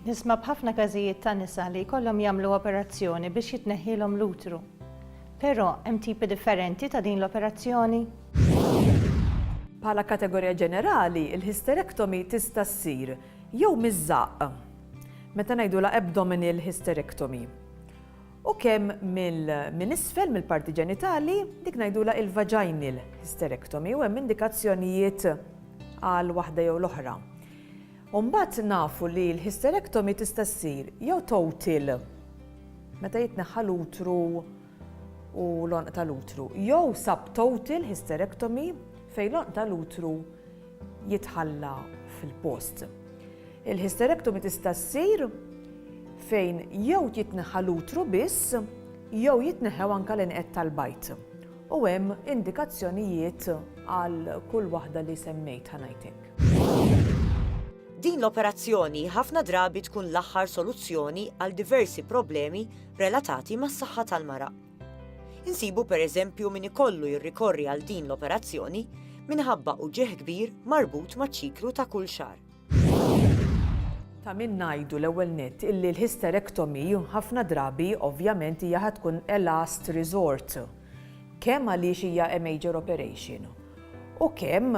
Nisma' b'ħafna każijiet ta' nisa li jkollhom jagħmlu operazzjoni biex jitneħħielhom l-utru. Però hemm tipi differenti ta' din l-operazzjoni? Bħala kategorija ġenerali, il-hysterectomy tista' ssir jew miż-żaqq, meta ngħidulha abdominal hysterectomy, u kemm minn isfel, mill-parti ġenitali, dik ngħidulha il-vaginal hysterectomy, u hemm indikazzjonijiet għal waħda jew l-oħra. U mbagħad nafu li l-hysterectomy tista' ssir jew total, meta jitneħħa l-utru u l-għonq tal-utru, jew subtotal hysterectomy fejn l-għonq tal-utru jitħalla fil-post. Il-hysterectomy tista' ssir fejn jew jitneħħa l-utru biss jew jitneħħew anke l-inqed tal-bajd. U hemm indikazzjonijiet għal kull waħda li semmejt ħa ngħid hekk. Din l-operazzjoni ħafna drabi tkun l-aħħar soluzzjoni għal diversi problemi relatati mas-saħħa tal-mara. Insibu pereżempju min ikollu jirrikorri għal din l-operazzjoni minħabba uġigħ kbir marbut maċ-ċiklu ta' kull xahar. Ta' min ngħidu l-ewwel nett illi l-hysterectomy ħafna drabi ovvjament hija ħa tkun a last resort. kemm għaliex hija a major operation u kemm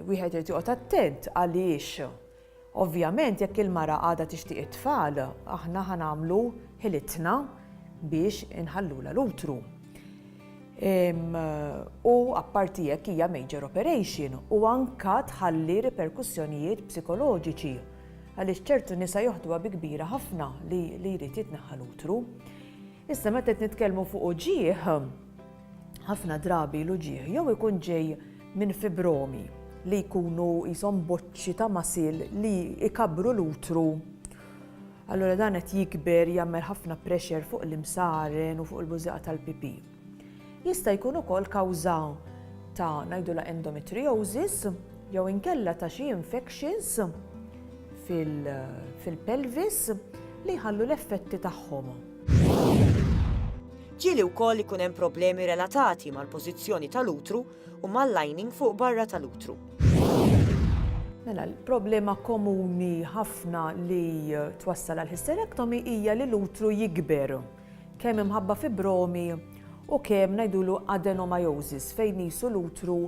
wieħed irid joqgħod attent għaliex ovvjament jekk il-mara għadha tixtieq it-tfal aħna ħa nagħmlu ħilitna biex inħallulha l-utru. U apparti jekk hija major operation u anka tħalli riperkussjonijiet psikoloġiċi għaliex ċertu nisa joħduha bi kbira ħafna li jrid jitneħħa l-utru. Issa meta qed nitkellmu fuq uġigħ, ħafna drabi l-uġigħ jew ikun ġej minn fibromi li jkunu jisom boċċi ta' masil li ikabru l-utru. Allura dan qed jikber jagħmel ħafna pressure fuq l-imsaren u fuq il-bużieqa tal-pipi. Jista' jkun ukoll kawża ta' ngħidulha endometriosis jew inkella ta' xi infections fil-pelvis li jħallu l-effetti tagħhom. Ġieli wkoll ikun hemm problemi relatati mal-pożizzjoni tal-utru u mal-lining fuq barra tal-utru. Mela, l-problema komuni ħafna li twassal għall-hysterectomy hija li l-utru jikber. kemm imħabba fibromi u kemm ngħidulu adenomyosis fejn qisu l-utru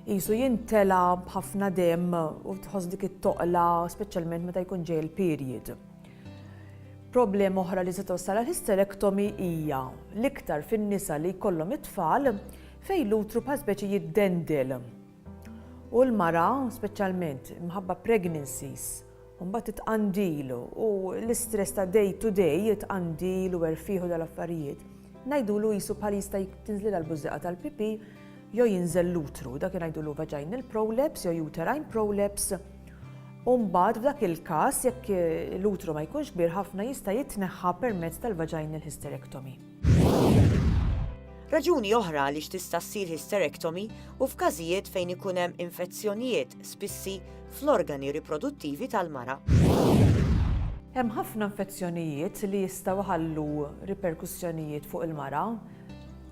qisu jimtela b'ħafna demm u tħoss dik it-toqla speċjalment meta jkun ġej il-period. Problema oħra li se tossal għal hysterectomy hija l-iktar fin-nisa li jkollhom it-tfal fejn l-utru bħal speċi jiddendel. U l-mara, speċjalment mħabba pregnancies, u mbagħad it-tqandil u l-istress ta' day to day, it-tqandil u erfieħ u dal-affarijiet, ngħidulu qisu bħal jista' tinżlilha l-bużieqa tal-pipì jew jinżel l-utru, dak ngħidulu vaginal prolapse jew uterine prolapse, u mbagħad f'dak il-każ jekk l-utru ma jkunx kbir ħafna jista' jitneħħa permezz tal-vaginal hysterectomy. Raġuni oħra għaliex tista' ssir hysterectomy hu f'każijiet fejn ikun hemm infezzjonijiet spissi fl-organi riproduttivi tal-mara. Hemm ħafna infezzjonijiet li jistgħu jħallu riperkussjonijiet fuq il-mara.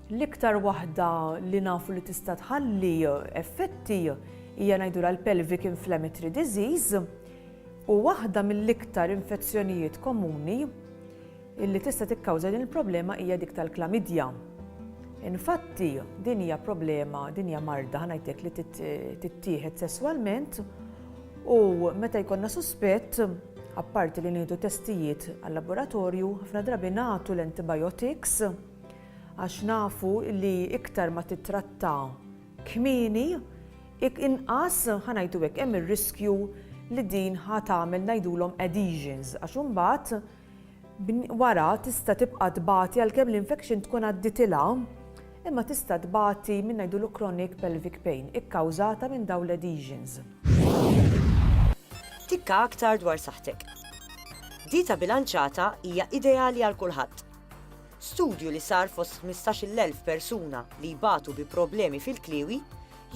L-iktar waħda li nafu li tista' tħalli effetti hija ngħidulha l-pelvic inflammatory disease u waħda mill-iktar infezzjonijiet komuni illi tista' tikkawża din il-problema hija dik tal-klamidja. Infatti, din hija problema, din hija marda ħanajtek li tittieħed sesswalment u meta jkollna suspett, apparti li nieħdu testijiet għal-laboratorju, ħafna drabi nagħtu l-antibiotics għax nafu li iktar ma titratta kmini, inqas ħanajtu hekk hemm ir-riskju li din ħa tagħmel ngħidulhom adhesions għax imbagħad Wara tista' tibqa' tbati għalkemm l-infection tkun għaddietilha, imma tista' tbati minn ngħidulu chronic pelvic pain ikkawżata minn dawn l-adhesions. Tikka aktar dwar saħħtek. Dieta bilanċata hija ideali għal kulħadd. Studju li sar fost 15-il elf persuna li jbatu bi problemi fil-kliewi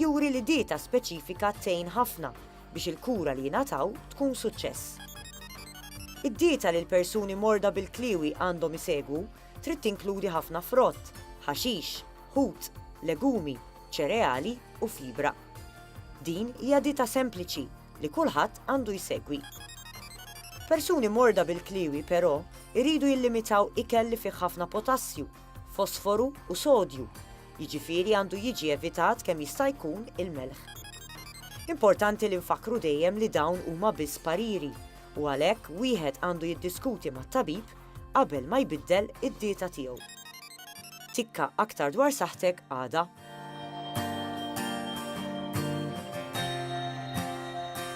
juri li dieta speċifika tgħin ħafna biex il-kura li jingħataw tkun suċċess. Id-dieta li l-persuni morda bil-kliewi għandhom isegwu trid tinkludi ħafna frott, ħaxix, ħut, legumi, ċereali u fibra. Din hija dieta sempliċi li kulħadd għandu jsegwi. Persuni morda bil-kliewi però jridu jillimitaw ikel li fih ħafna potassju, fosforu u sodju Jiġifieri għandu jiġi evitat kemm jista' jkun il-melħ. Importanti li nfakkru dejjem li dawn huma biss pariri u għalhekk wieħed għandu jiddiskuti mat-tabib qabel ma jbiddel id-dieta tiegħu. Tikka aktar dwar saħħtek għada.